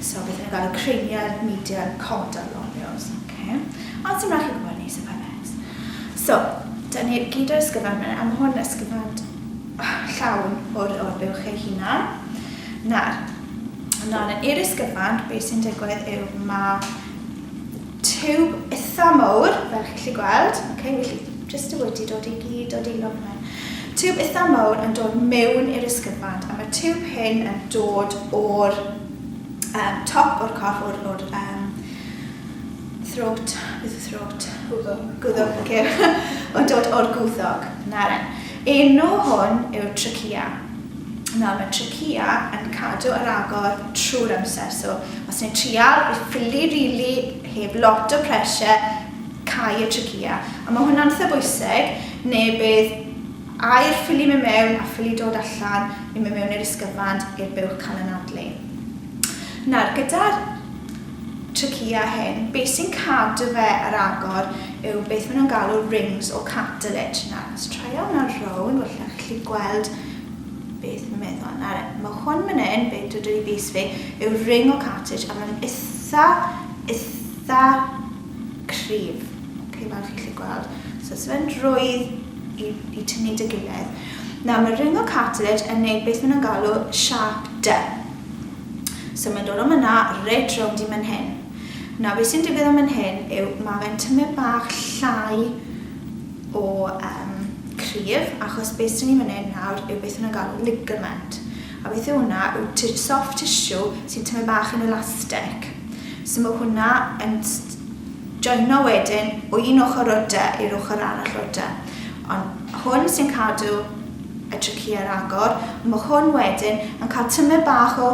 So beth yw galw creiriau media comedol loniws, oce. Ond sdim raid chi gwybod hynny so paid poeni. So, da ni gyd o'r ysgyfan yma, a ma' hwn ysgyfan llawn o'r o'r buwch eich hunan. Nawr, ymlaen i'r ysgyfan, be sy'n digwydd yw ma' tiwb itha mowr, fel chi'n gallu gweld, ok, felly jyst y wedi dod i gyd dod i lawr fan hyn. Tiwb itha mowr yn dod mewn i'r ysgyfant, a mae'r tiwb hyn yn dod o'r um, top o'r corff, o'r, or, um, throat, beth yw throat? Gwddog. Gwddog, ok. Mae'n dod o'r gwddog, na ren. Enw hwn yw'r trachea. Nawr mae tracia yn cadw ar agor trwy'r amser so os ni'n trial i ffili rili heb lot o pressure cau y tracia a mae hwnna'n eitha bwysig neu bydd aer ffili mynd mewn a ffili dod allan i mynd mewn i'r ysgyfand i'r buwch cael anadlu. Nawr gyda'r tracia hyn beth sy'n cadw fe ar agor yw beth maen nhw'n galw rings o cartilage. Nawr let's try on our round, falle chi'n gallu gweld Beth ma meddwl am nawr e. Ma hwn man yn, be dw i bys fi, yw ring o cartage a mae'n itha, itha cryf. Ok, fel chi'n gallu gweld. So os fe'n rwydd i, i tynnu dy gilydd. Nawr mae ring o cartage yn neud beth maen nhw'n galw sharp dy. So mae'n dod o myna reit rownd i man hyn. Nawr beth sy'n digwydd o man hyn yw mae fe'n tymud bach llai o yym cryf achos be sy'n ni'n mynd nawr yw beth nhw'n galw ligament a beth yw hwnna yw t- soft tissue sy'n tymed bach yn elastic so mae hwnna yn joino wedyn o un ochr o'r dy i'r ochr arall o'r dy ond hwn sy'n cadw y traci ar agor mae hwn wedyn yn cael tymed bach o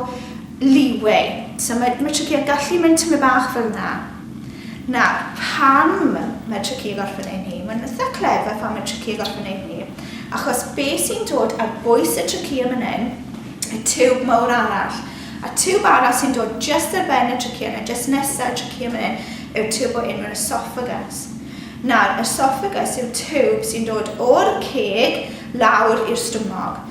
leeway so mae, mae traci yn gallu mynd tymed bach fel yna Nawr, pam mae Tricia i gorffen ei nhîm? Mae'n itha clever pam mae Tricia i gorffen ei nhîm, achos be sy'n dod ar bwys y Tricia man hyn, y tiwb mawr arall, a tiwb arall sy'n dod jyst ar ben y Tricia yna, jyst nesa y Tricia man hyn, yw'r tiwb o enw'r Esophagus. Nawr, Esophagus yw'r tiwb sy'n dod o'r ceg lawr i'r stumog.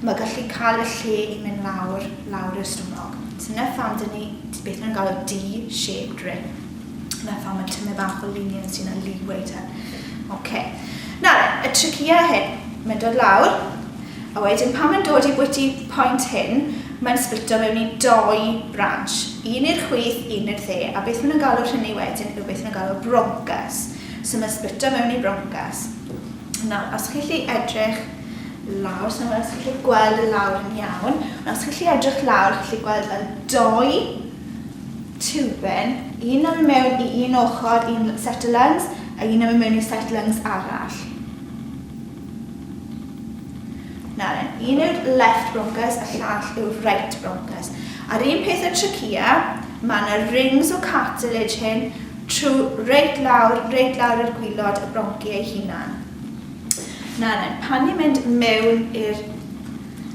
Mae gallu cael y lle i mynd lawr, lawr i'r stumog. Dyna pham dyn ni, beth maen nhw'n galw D-shaped rim. Dyna pham mae tymed bach o lunion sy'n a leeway te. Ok. Nawr e, y tricia hyn. Mae'n dod lawr, a wedyn pan mae'n dod i bwyty point hyn, mae'n splito mewn i doi branch. Un i'r chwith, un i'r dde. A beth maen nhw'n galw'r rhynny wedyn yw beth maen nhw'n galw broncas. So mae'n splito mewn i broncas. Nawr, os chi'n gallu edrych lawr, so os chi'n gallu gweld y lawr yn iawn, ond os chi'n gallu edrych lawr, chi'n gallu gweld fel doi tiwben, un yn mynd mewn i un ochr, un set o lungs, a un yn mynd mewn i set lungs arall. Nawr, un yw'r left bronchus, a llall yw'r right bronchus. A'r un peth y trachea, mae yna rings o cartilage hyn trwy reit lawr, reit lawr i'r gwylod y bronci ei hunan. Nawr then, pan ni'n mynd mewn i'r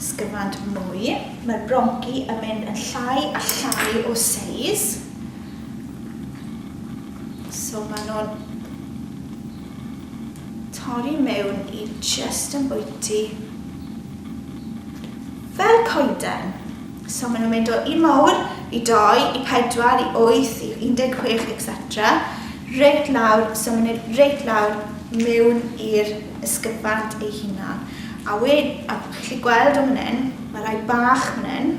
sgyfand mwy, mae'r bronci yn mynd yn llai a llai o seis. So maen nhw'n torri mewn i just yn bwyty fel coeden. So maen nhw'n mynd o un mawr i doi, i pedwar, i wyth, i 16, etc. Reit lawr, so maen nhw'n reit lawr mewn i'r ysgyfant ei hunan. A we, a chi'n gallu gweld o fan hyn, mae rai bach fan hyn,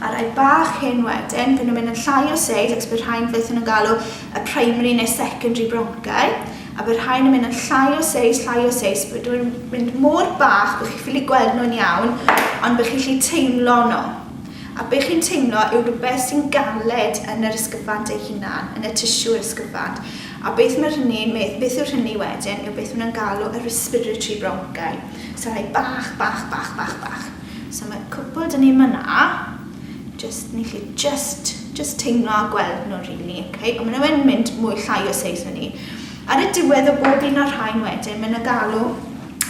a rai bach hyn wedyn, fy nhw'n mynd yn llai o seis, ac bydd rhain beth nhw'n galw y primary neu secondary broncau. a bydd rhain yn mynd yn llai o seis, llai o seis, bydd nhw'n mynd mor bach bydd chi'n ffili gweld nhw'n iawn, ond bydd chi'n ffili teimlo nhw. A bydd chi'n teimlo yw rhywbeth sy'n galed yn yr ysgyfant ei hunan, yn y tisiw'r ysgyfant. A beth mae hynny'n medd, beth yw'r hynny wedyn, yw beth maen galw y respiratory bronchi. So rhai bach, bach, bach, bach, bach. So mae cwpl dyn ni myna, just, ni chi just Jyst teimlo a gweld nhw rili. Ok, ond maen nhw yn mynd mwy llai o seis na ni. Ar y diwedd o bob un o'r rhain wedyn, maen nhw'n galw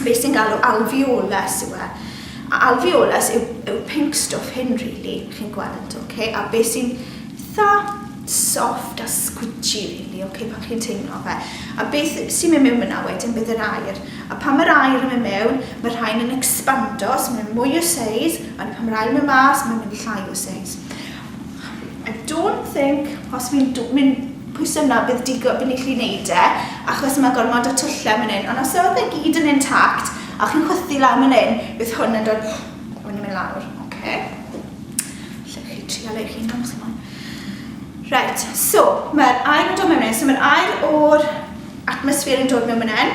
beth sy'n galw alveolus yw e. A alveolus yw, yw pink stwff hyn rili, chi'n gweld, ok, a beth sy'n eitha soft a squidgy rili, ok, pan chi'n teimlo fe. A beth sy'n mynd mewn fyna wedyn bydd yr air. A pan mae'r air yn mynd mewn, mae rhain yn expando, so maen nhw'n mwy o seis, ond pan mae'r air yn mynd mas, maen nhw'n mynd llai o seis. I don't think os fi'n do- mynd pwyso yna bydd digo- bydd ni'n gallu neud e achos ma' gormod o twlle myn hyn ond os odd e gyd yn intact a chi'n chwythu lan myn hyn bydd hwn yn dod a wedyn myn lawr. Oce. Allech chi trial eich hunan os chi moyn. Reit so ma'r aer yn dod mewn myn hyn so ma'r aer o'r atmosffer yn dod mewn myn hyn.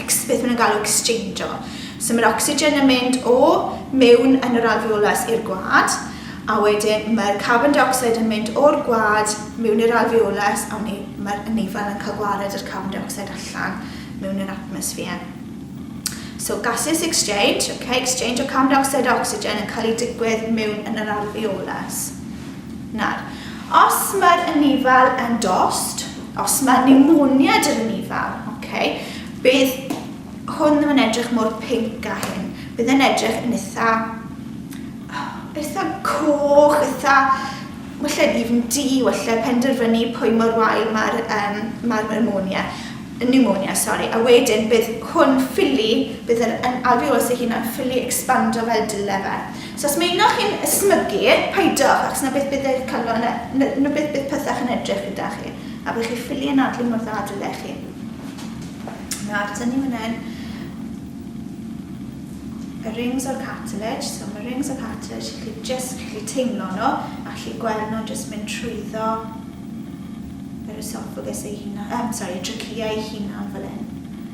ex- beth maen nhw'n galw exchangio. So mae'r ocsigen yn mynd o mewn yn yr alveolus i'r gwad, a wedyn mae'r carbon dioxide yn mynd o'r gwad mewn i'r alveolus, a mae'r anifail yn cael gwared yr carbon dioxide allan mewn yr atmosffer. So gases exchange, okay, exchange o carbon dioxide a ocsigen yn cael ei digwydd mewn yn yr alveolus. Nawr, os mae'r anifail yn dost, os mae pneumonia dy'r anifail, okay, bydd hwn ddim yn edrych mor pink a hyn. Bydd yn edrych yn eitha, eitha coch, eitha, wella even di, wella penderfynu pwy mor wael mae'r um, ma pneumonia, pneumonia, sorry. A wedyn bydd hwn ffili, bydd yr alveolus ei hunan ffili expando fel dyle fe. So os mae un o chi'n ysmygu, paidwch, achos 'na beth bydd eich calon, 'na, 'na, 'na beth bydd pethach yn edrych gyda chi, a bydd chi ffili anadlu mor dda dyle chi. Nawr, tynnu hwnna yn. Y rings o'r cartilage, so mae rings o'r cartilage, chi just chi teimlo nhw, a chi gweld nhw'n just mynd trwyddo yr esophagus ei hunan, um, sorry, y trachea ei hunan fel hyn.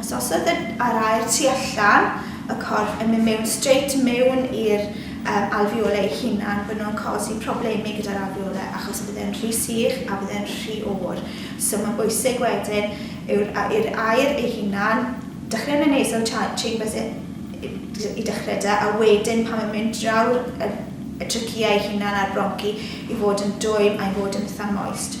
Os osod yr aer tu allan y corff yn mynd mewn streit mewn i'r um, alfiolau ei hunan, bydden nhw'n cosi problemau gyda'r alfiolau achos bydde'n rhy sych a bydde'n rhy oer. So mae'n bwysig wedyn yw'r i'r aer ei hunan, dechrau yn y nasal chambers e, i dechrau da, a wedyn pan mae'n mynd draw'r y, y tryciau ei hunan a'r bronci i fod yn dwym a'i fod yn itha moist.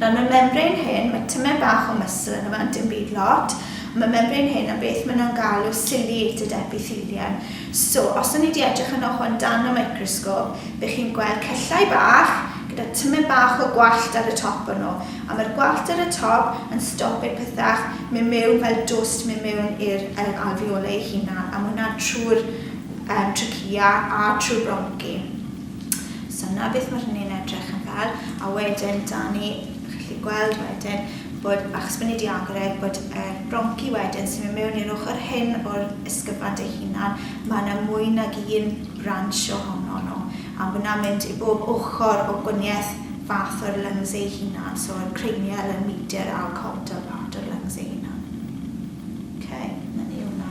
Nawr mae membrane hen, mae tymed bach o muscle yno fe ond dim byd lot, ond mae membrane hen am beth mae nhw'n galw ciliated epithelium. So, os o'n ni 'di edrych yno hwn dan y microsgôp, be chi'n gweld cyllau bach gyda tymed bach o gwallt ar y top o nhw, a mae'r gwallt ar y top yn stopio pethau mynd mewn fel dwst mynd mewn i'r yr alveoli eu hunan, a mae hwnna'n trwy'r yym trachea a trwy'r bronci. So 'na beth ma' hynny'n edrych yn fel. A wedyn 'da ni, chi'n gallu gweld wedyn bod, achos bod ni 'di agor e, bod y bronci wedyn sy'n mynd mewn i'r ochr hyn o'r ysgyfan ei hunan, ma' 'na mwy nag un branch ohonon nhw, a ma' 'na'n mynd i bob ochr o gwanieth fath o'r lungs eu hunan, so o'r cranial, y medial a'r caudal part o'r lungs eu hunan. Ok, 'na ni hwnna.